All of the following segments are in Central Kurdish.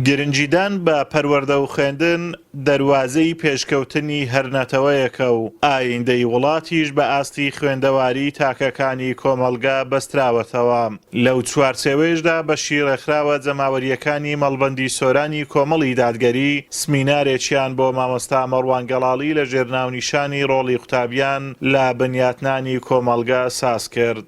گرنگیدان بە پەروەردە و خوێندن دەروازەی پێشکەوتنی هەر نەتەوەیەکە و ئایندەی وڵاتیش بە ئاستی خوێندەواریی تاکەکانی کۆمەڵگا بەستراوەتەوە. لەو چوارچێوەیشدا بەشی ڕێکخراوە جەماوەرییەکانی مەڵبەندی سۆرانی کۆمەڵی دادگەری سمینارێکیان بۆ مامۆستا مەڕوان گەڵاڵی لەژێر ناونیشانی ڕۆڵی قوتابیان لە بنیاتنانی کۆمەڵگە سازکرد.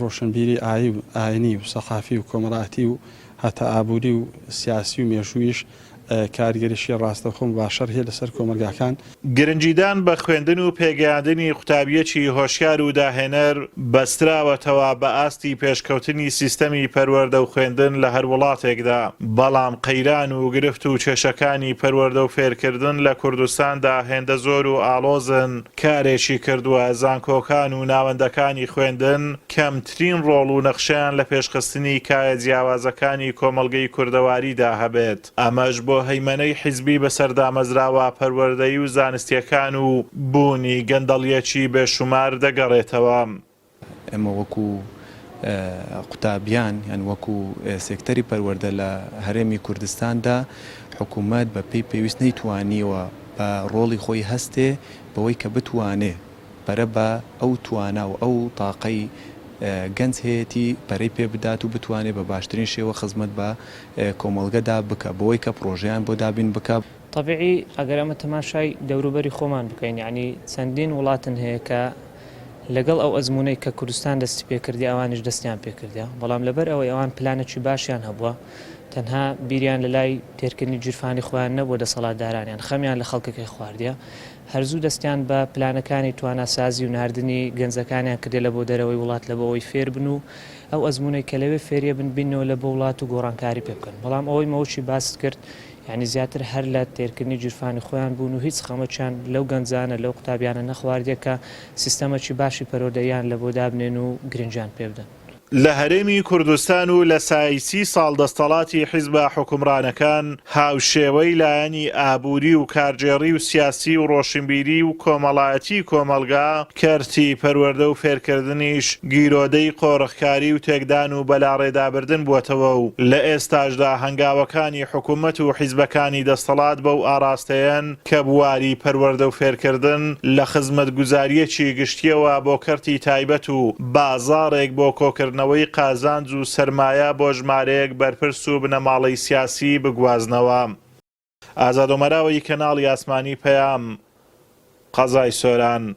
ڕۆشنبیری ئایینی و سەقافی و کۆمەڵایەتی و هەتا ئابووری و سیاسی و مێژووییش کاریگەریی ڕاستەوخۆ مباشەر هەیە لەسەر کۆمەڵگاکان. گرنگیدان بە خوێندن و پێگەیاندنی قوتابییەکی هۆشیار و داهێنەر بەستراوەتەوە بە ئاستی پێشکەوتنی سیستەمی پەروەردە و خوێندن لە هەر وڵاتێکدا، بەڵام قەیران و گرفت و کێشەکانی پەروەردە و فێرکردن لە کوردستاندا هێندە زۆر و ئاڵۆزن، کارێکی کردووە، زانکۆکان و ناوەندەکانی خوێندن کەمترین ڕۆڵ و نەخشەیان لە پێشخستنی کایە جیاوازەکانی کۆمەڵگەی کوردەواریدا هەبێت، ئەمەش بۆ هەیمەنەی حیزبی بەسەر دامەزراوە پەروەردەیی و زانستییەکان و بوونی گەندەڵییەکی بێشومار دەگەڕێتەوە. ئێمە وەکو قوتابیان یان وەکو سێکتەری پەروەردە لە هەرێمی کوردستاندا حکومەت بە پێی پێویست نەیتوانیوە بە ڕۆڵی خۆی هەستێ بەوەی کە بتوانێ پەرە بە ئەو توانا و ئەو تاقەی گەنج هەیەتی پەرەی پێ بدات و بتوانێ بە باشترین شێوە خزمەت بە کۆمەڵگەدا بکا بەوەی کە پڕۆژەیان بۆ دابین بکا. تەبیعی ئەگەر ئەمە تەماشای دەوروبەری خۆمان بکەین یەعنی چەندین وڵاتن هەیە کە لەگەڵ ئەو ئەزموونەی کە کوردستان دەستی پێکردی ئەوانیش دەستیان پێکردە بەڵام لەبەر ئەوەی ئەوان پلانێکی باشیان هەبووە تەنها بیریان لە لای تێرکردنی گیرفانی خۆیان نەبووە دەسەڵاتدارانیان خەمیان لە خەڵکەکەی خواردە هەرزوو دەستیان بە پلانەکانی تواناسازی و ناردنی گەنجەکانیان کردێ لە بۆ دەرەوەی وڵات لە بۆەوەی فێربن و ئەو ئەزمونەی کە لەوێ فێریە بن بینەوە لە بۆ وڵات و گۆڕانکاری پێ بکەن بەڵام ئەوەی مەوشی باست کرد یانی زیاتر هەر لە تێرکردنی گیرفانی خۆیان بوون و هیچ خەمەکیان لەو گەنجانە لەو قوتابیانە نەخواردیە کە سیستەمەکی باشی پەروەردەییان لەبۆ دابنێن و گرنگیان پێبدەن. لە هەرێمی کوردستان و لە سای سی ساڵ دەستەڵاتی حیزبە حوکمڕانەکان هاوشێوەی لایەنی ئابووری و کارگێڕی و سیاسی و ڕۆشنبیری و کۆمەڵایەتی کۆمەڵگا، کەرتی پەروەردە و فێرکردنیش گیرۆدەی قۆرخکاری و تێکدان و بەلاڕێدابردن بووەتەوە و لە ئێستاشدا هەنگاوەکانی حکوومەت و حیزبەکانی دەستەڵات بەو ئاڕاستەیەن کە بواری پەروەردە و فێرکردن لە خزمەتگوزارییەکی گشتییەوە بۆ کەرتی تایبەت و بازاڕێک بۆ کۆکردنەوەی قازانج و سەرمایە بۆ ژمارەیەک بەرپرس و بنەماڵەی سیاسی بگوازنەوە. ئازاد ئۆمەراوا ی کەناڵی ئاسمانی پەیام، قەزای سۆران.